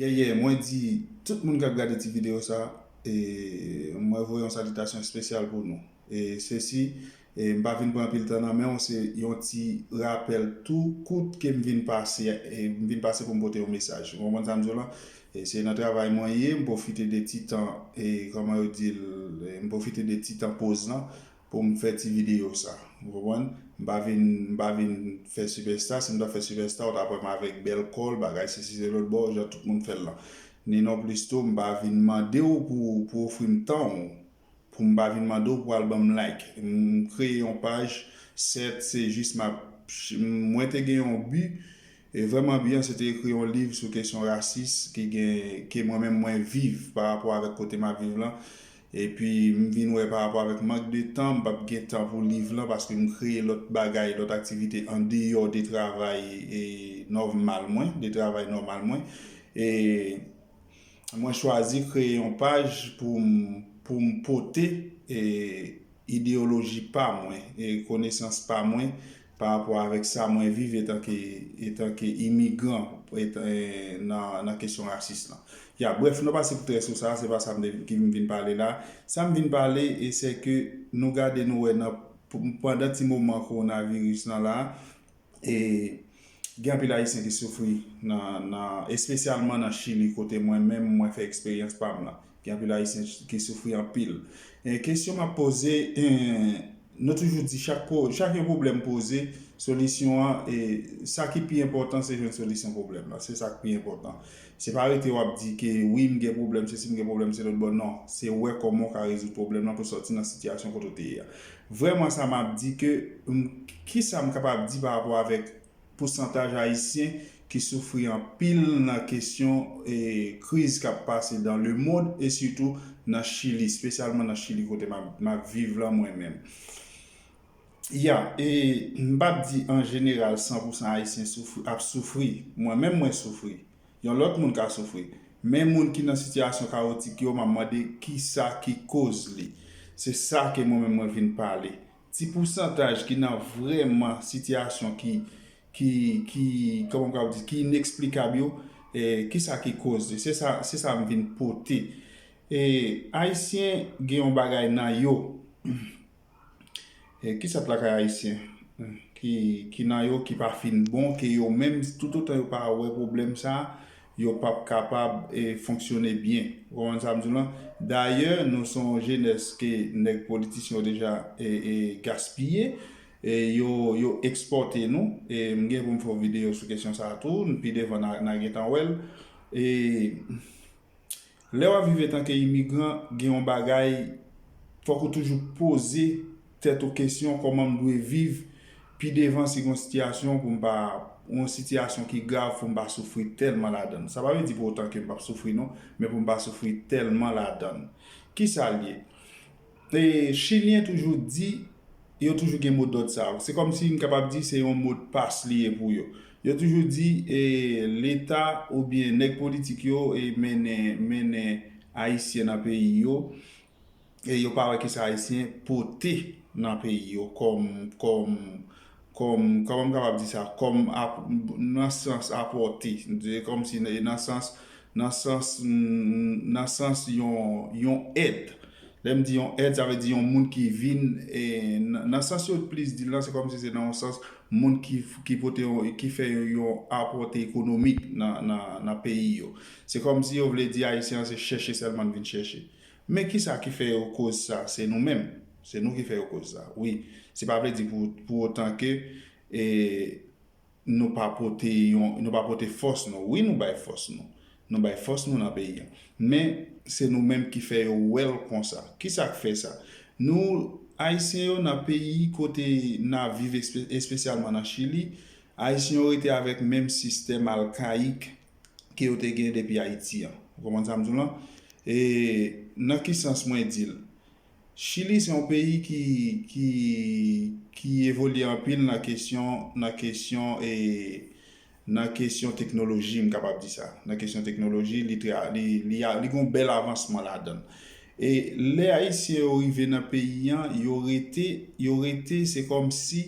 Yeah yeah mwen di tout moun kap gade ti video sa e mwen voye yon salitasyon espesyal pou nou e sesi e mpa vin pran anpil tan nan menw se yon ti rapèl tou kout kem vin pase e mvin pase poum pote yon mesaj ou konprann sam diw lan e se nan travay mwen ye mpofite de ti tan e kòman yo dil mpofite de ti tan poz lan pou m fè ti videyo sa. Ou konprann? M pa vin, m pa vin fè sipèsta, si m ta fè sipèsta ou ta wè m avèk bèl kòl, bagay sesi se lòt bon jan tout moun fè l lan. Ni non plis tou m pa vin mande w pou w pou w ofri m tan w, pou m pa vin mande w pou w al ban m like. M kreye yon paj, sèt se jis m ap, mwen te gen yon bi, E vrèman byen se te ekri yon liv sou kesyon rasis ki gen ke mwen menm mwen viv pa rapò avèk kote m ap viv lan. Epi m vin wè pa rapò avèk mank de tan m p ap gen tan pou liv lan paske m kreye lòt bagay, lòt aktivite andeyò de travay e nòmal mwen, de travay nòmal mwen. E mwen chwazi kreye yon paj pou m pou m pote e ideyoloji pa mwen e konesans pa mwen pa rapò avèk sa mwen viv etanke etanke imigran nan kesyon rasis lan. Ya brèf nou pase pou trè sou sa, se pa sa mwen ki vin pale la. Sa m vin pale e se ke nou gade nou wè nan pandan ti moman kowonaviris lan la e gen anpil ayisyen ki soufri nan espesyalman nan chili kote mwen menm mwen fè eksperyans pa m lan. Gen anpil ayisyen ki soufri anpil. Kesyon map poze, nou toujou di chak yon pwoblèm poze, solisyon an, sa ki pi enpòtan se jwenn solisyon pwoblèm la. Se sa ki pi enpòtan. Se pa rete wap di ke wi m gen pwoblèm se si m gen pwoblèm se lòt bò non. Se wè kòman w ka rezoud pwoblèm lan pou sòti nan sitiyasyon kote w te ye a. Vrèman sa map di ke, kisa m kapab di pa rapò avèk pousantaj Ayisyen ki soufri anpil nan kesyon kriz k ap pase dan lemond e sitou nan Chili, spesyalman nan Chili kote m ap viv lan mwen menm. Ya e m pa p di an jeneral san pousan Ayisyen soufri ap soufri. Mwen menm mwen soufri. Yon lòt moun ka soufri. Men moun ki nan sitiyasyon kawotik yo m ap mande kisa ki koz li. Se sa ke mwen menm mwen vin pale. Ti pousantaj ki nan vrèman sitiyasyon ki ki kòman m kapab di ki ineksplikab yo kisa ki koz li se sa se sa m vin pote e ayisyen gen yon bagay nan yo ki sòt lakay ayisyen ki nan yo ki pa fin bon ke yo menm toutotan yo pa wè pwoblèm sa yo pap kapab fonksyone byen. Ou konprann sa m di w lan? Dayè, nou se yon jenès ke nèg politisyen yo deja gaspiye, yo ekspòte nou. M gen pou m fè yon videyo sou kesyon sa a tou, pi devan n a gen tan wè l. Lè wap viv etanke imigran gen yon bagay fòk ou toujou poze tèt ou kesyon kòman m dwe viv pi devan si gen yon sitiyasyon pou m pa ou yon sitiyasyon ki grav pou m pa soufri tèlman ladan l sa pa vle di pou otan ke m pap soufri non men pou m pa soufri tèlman ladan l kisa l ye Chilyen toujou di, yo toujou gen mo dòd sa yo. Se kòm si m kapab di se yon modpas li ye pou yo. Yo toujou di Leta oubyen nèg politik yo mennen mennen Ayisyen nan peyi yo e yo pa wè kisa Ayisyen pote nan peyi yo kòm kòm kòm, kòman m kapab di sa, kòm ap, nan sans apòte, di kòm si e nan sans, nan sans, nan sans yon, yon èd. Lè m di yon èd sa vle di yon moun ki vin e, nan sans yo plis di l lan se kòm si se nan yon sans moun ki, ki pote yon, ki fè yon apòte ekonomik nan, nan, nan peyi yo. Se kòm si yo vle di Ayisyen an se chèche sèlman l vin chèche. Men kisa ki fè yo koz sa, se nou menm, se nou ki fè yo koz sa. Wi, se pa vle di pou otan ke nou pa pote yon, nou pa pote fòs nou. Wi nou bay fòs nou, nou bay fòs nou nan peyi an. Men, se nou menm ki fè yo wè l konsa. Kisa k fè sa? Nou, Ayisyen yo nan peyi kote n ap viv espesyalman nan Chili, Ayisyen yo rete avèk menm sistèm alkayik ke yo te gen depi Ayiti an. Ou konprann sa m di w lan? E nan ki sans mwen di l? Chili se yon peyi ki, ki, ki evolye anpil nan kesyon, nan kesyon e, nan kesyon teknoloji m kapab di sa. Nan kesyon teknoloji li trè, li, li a, li gen yon bèl avansman ladan l. E lè Ayisyen yo rive nan peyi an, yo rete, yo rete se kòmsi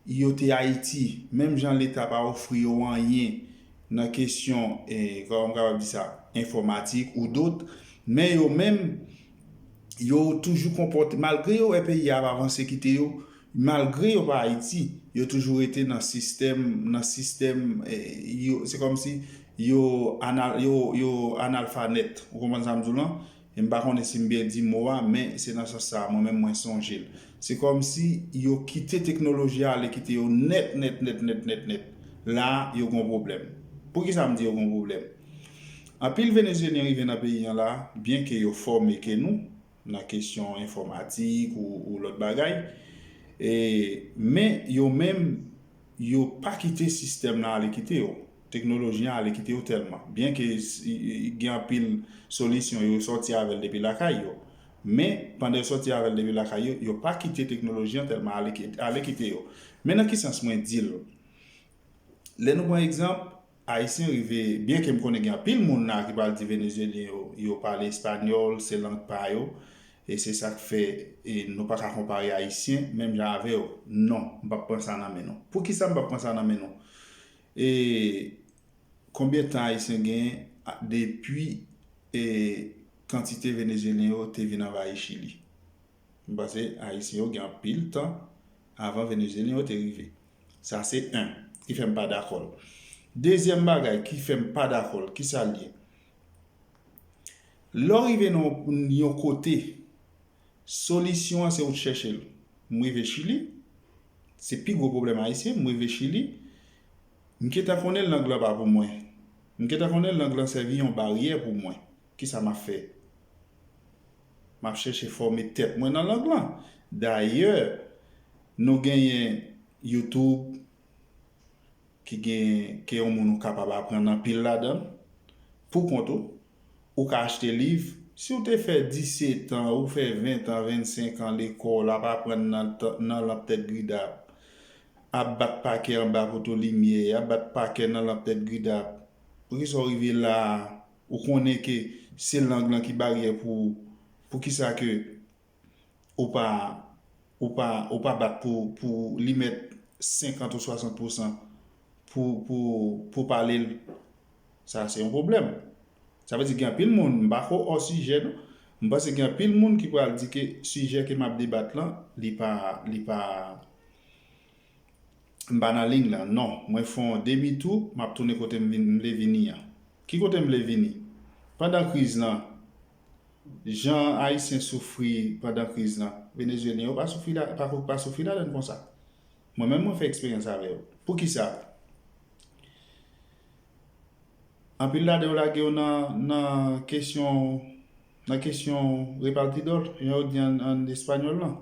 Yo te Ayiti, menm jan Leta pa ofri yo anyen nan kesyon, kòman m kapab di sa, enfòmatik ou dot, men yo menm, yo toujou konpòte, malgre yo wè peyi a ap avanse kite yo, malgre yo pa Ayiti, yo toujou rete nan sistèm, nan sistèm, yo, se kòmsi yo, yo analfanèt, ou konprann sa m di w lan? E m pa konnen si m byen di mo a, men se nan sans sa a mwen menm mwen sonje l. Se kòmsi yo kite teknoloji a ale kite yo nèt nèt nèt nèt nèt nèt. La a, yo gen yon pwoblèm. Poukisa m di yo gen yon pwoblèm? Anpil Venezyelyen rive nan peyi an la a, byenke yo fòme ke nou, nan kesyon enfòmatik ou lòt bagay, e, men yo menm, Yo pa kite sistèm lan ale kite yo, teknoloji an ale kite yo tèlman. Byen ke gen anpil solisyon yo sòti avè l depi lakay yo. Men, pandan yo sòti avè l depi lakay yo, yo pa kite teknoloji an tèlman ale kite yo. Men nan ki sans mwen di l? Lè nou pran egzanp. Ayisyen rive, byen ke m konnen gen anpil moun la ki pral di Venezyelyen yo, yo pale espanyòl, se lang pa yo, e se sa k fè nou pa ka konpare Ayisyen menm jan avè yo. Non, m p ap pran sa nan men nou. Poukisa m p ap pran sa nan men nou? E konbyen tan Ayisyen genyen depi kantite Venezyelyen yo te vin anvayi Chili? M panse Ayisyen yo gen anpil tan avan Venezyelyen yo te rive. Sa se 1 ki fè m pa dakò l. Dezyèm bagay ki fè m pa dakò l, kisa l ye? Lè w rive nan yon kote, solisyon an se ou chèche l. M rive Chili, se pi gwo pwoblèm Ayisyen, m rive Chili, m gentan konnen lang lan pa pou mwen. M gentan konnen lang lan sèvi yon baryè pou mwen. Kisa m ap fè? M ap chèche fòme tèt mwen nan lang lan. Dayè, nou genyen YouTube ki gen ke yon moun ou kapab aprann anpil ladan l pou kont ou. Ou ka achte liv. Si w te fè disetan, ou fè ventan, vennsenkan lekòl, ap aprann nan lanp tèt gridap, ap bat pakè anba poto limyè, ap bat pakè nan lanp tèt gridap, poukisa w rive la a? Ou konnen ke se lang lan ki baryè pou ou, poukisa ke ou pa, ou pa, ou pa bat pou, pou li mèt 50 ou 60 pousan pou, pou, pou w pale l? Sa se yon pwoblèm. Sa vle di gen anpil moun, m pa ko ò sijè non, m panse gen anpil moun ki pral di ke sijè ke m ap debat lan, li pa, li pa. M pa nan lign lan non. Mwen fon demi tou map tounen kote m vle vini an. Ki kote m vle vini? Pandan kriz lan, jan Ayisyen soufri pandan kriz lan, Venezuelyen yo pa soufri pa soufri ladann konsa. Mwen menm mwen fè eksperyans avè yo. Poukisa? Anpil ladan yo lage yo nan kesyon nan kesyon repartidor, jan yo di an espanyòl lan.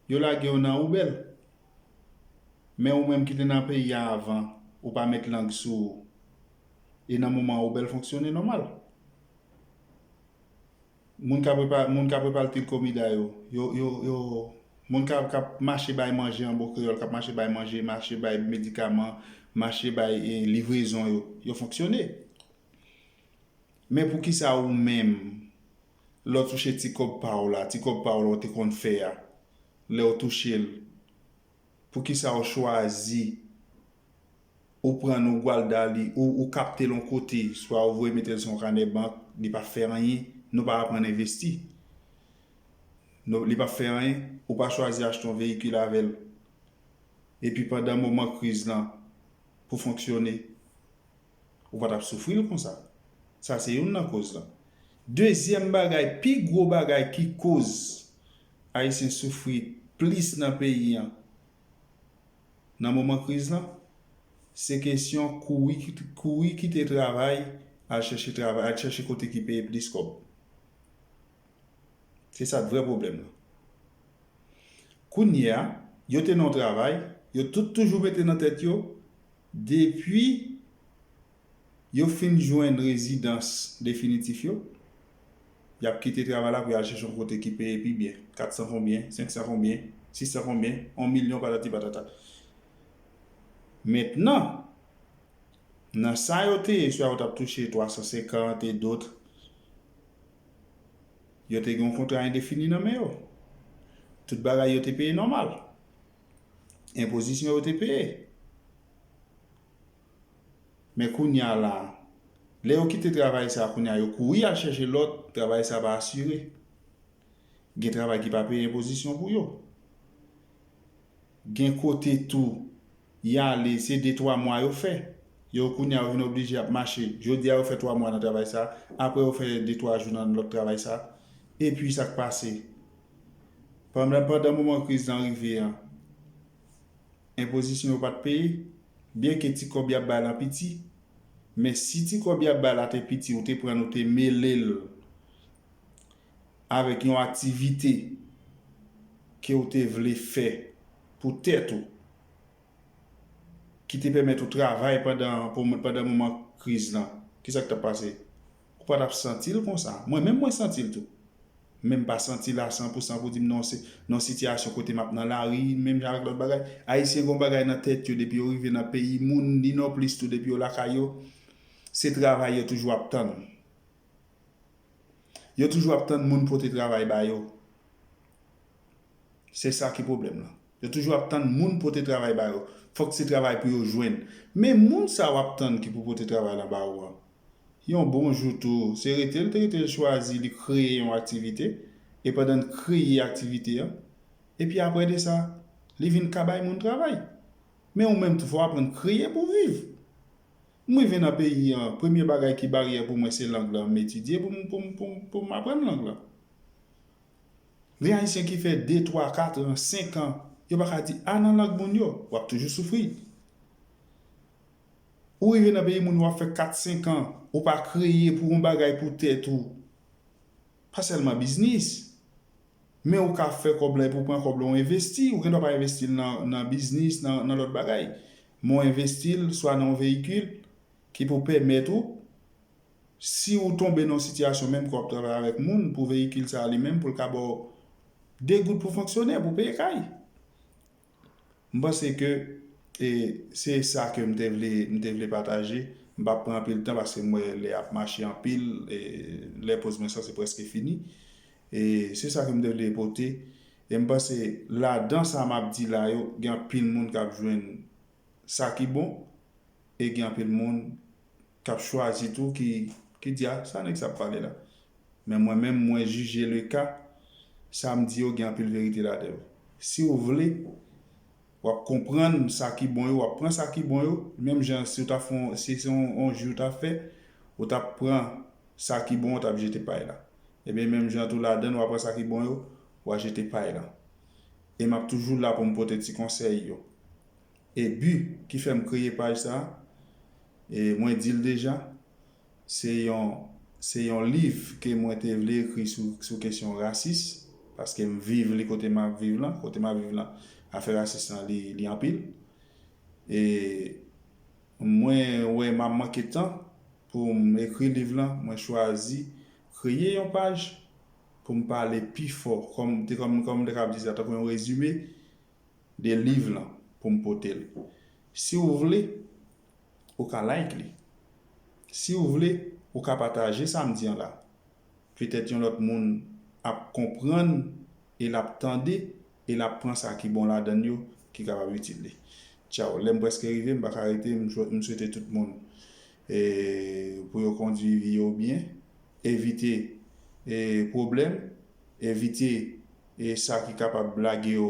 Yo lage w nan oubèl. Men ou menm ki te nan peyi a avan, ou pa met lang sou ou. E nan moman oubèl fonksyone nòmal. Moun k ap repalte komida yo, moun k ap mache bay manje an bon kreyòl, k ap mache bay manje, mache bay medikaman, mache bay livrezon yo, yo fonksyone. Men poukisa ou menm? lèw touche ti kòb pa w la, ti kòb pa w la ou te konn fè a, lèw touche l, poukisa ou chwazi ou pran l ou gwal da li, ou kapte l yon kote, swa ou voye mete l sou yon kanè bank, li pa fè anyen, nou pa aprann envesti, li pa fè anyen, ou pa chwazi achte yon veyikil avè l, epi pandan moman kriz lan, pou fonksyone. Ou pa t ap soufri l konsa. Sa se youn nan koz lan. Dezyèm bagay, pi gwo bagay ki koz Ayisyen soufri plis nan peyi an nan moman kriz lan, se kesyon kouri kouri kite travay al chèche travay, al chèche kote ki peye plis kòb. Se sa k vrè pwoblèm nan. Kounye a, yo te nan yon travay, yo tout toujou mete nan tèt yo, depi yo fin jwenn rezidans definitif yo, y ap kite travay la pou y al chèche yon kote ki peye pi byen, 400 konbyen, 500 konbyen, 600 konbyen, yon milyon patati patata. Mentnan, nan sa yo te ye, swa yo t ap touche 350 et d'autres, Yo te gen yon kontra endefini nan men yo. Tout bagay yo te peye nòmal. Enpozisyon yo te peye. Men kounye a la, lè yo kite travay sa a kounye a, yo kouri al chèche lòt, travay sa a pa asire. Gen travay ki pa peye enpozisyon pou yo. Gen kote tou, y ale, se de twa mwa yo fè. Yo kounye a yo vin oblije ap mache. Jodi a yo fè twa mwa nan travay sa a, apre yo fè de twa jou nan lòt travay sa a. Epi sa k pase? Pandan pandan moman kriz lan rive an, enpozisyon yo pa t peye, byenke ti kòb y ap bay lan piti. Men si ti kòb y ap bay la te piti, ou te pran l ou te mele l avèk yon aktivite ke ou te vle fè pou tèt ou, ki te pèmèt ou travay pandan pandan moman kriz lan, ki sa k t ap pase? Ou pa t ap santi l konsa. Mwen menm mwen santi l tou. Men m pa santi l a san pou san pou di m non se nan sitiyasyon kote m ap nan lari menm jan avèk lòt bagay. Ayisyen gen yon bagay nan tèt yo depi yo rive nan peyi moun ni nonplis tou depi yo lakay yo, se travay yo toujou ap tann. Yo toujou ap tann moun pote travay ba yo. Se sa ki pwoblèm lan. Yo toujou ap tann moun pote travay ba yo. Fòk se travay pou yo jwenn. Men moun sa w ap tann ki pou pote travay lan ba ou an, yon bon jou tou, se rete l te rete l chwazi li kreye yon aktivite, e pandan l kreye aktivite an, epi apre de sa, li vin ka bay moun travay. Men ou menm tou fò w aprann kreye pou w viv. M rive nan peyi an, premye bagay ki baryè pou mwen se lang lan m etidye pou m pou m pou m pou m aprann lang lan. Gen Ayisyen ki fè de, twa, katran, senkan, yo pa ka di a nan lang moun yo, w ap toujou soufri. Ou rive nan peyi moun w ap fè kat, senkan, ou pa kreye pou on bagay pou tèt ou. Pa sèlman biznis, men ou ka fè kòb la epi ou pran kòb la ou envesti, ou gen dwa pa envesti l nan biznis, nan lòt bagay. Men ou envesti l swa nan yon veyikil ki pou pèmèt ou, si ou tonbe nan yon sitiyasyon menm ke w ap travay avèk moun pou veyikil sa a li menm pou l ka ba w 2 goud pou fonksyone, pou w peye kay. M panse ke e se sa ke m te vle m te vle pataje. M pap pran anpil tan paske m wè lè ap mache anpil e lè poz mwen sa se preske fini. E se sa ke m te vle pote e m panse ladan sa m ap di la yo gen anpil moun k ap jwenn sa ki bon e gen anpil moun K ap chwazi tou ki ki di a sa nèg sa ap pale la. Men mwen menm mwen jije le ka, sa m di yo gen anpil verite ladan yo. Si w vle, w ap konprann sa ki bon yo, w ap pran sa ki bon yo, menm jan si w ta fon si se yon yon ji w ta fè, ou t ap pran sa ki bon ou t ap jete pay la. Ebyen menm jan tou ladan l w a pran sa ki bon yo, w a jete pay lan. E m ap toujou la pou m pote ti konsèy yo. E but ki fèm kreye paj sa, e mwen dil deja, se yon se yon liv ke mwen te vle ekri sou sou kesyon rasis, paskem viv li kote map viv lan, kote map viv lan afè rasis lan li li anpil. E mwen wè map manke tan poum ekri liv lan, mwen chwazi kreye yon paj poum pale pi fò kòm te kòm kòm m te kab di sa tankou yon rezime de liv lan pou m pote l. Si w vle, ou ka like li. Si w vle, ou ka pataje sa m di an la. Petèt yon lòt moun ap konprann e l ap tande e l ap pran sa ki bon ladan l yo ki kapab itil li. Tchaw! Lè m prèske rive, m pa ka rete, m swete tout moun pou yo kondui vi yo byen, evite pwoblèm, evite E sa ki kapab lage yo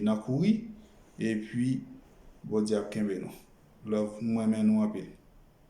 nan kouri epi Bondye ap kenbe nou love m renmen nou anpil.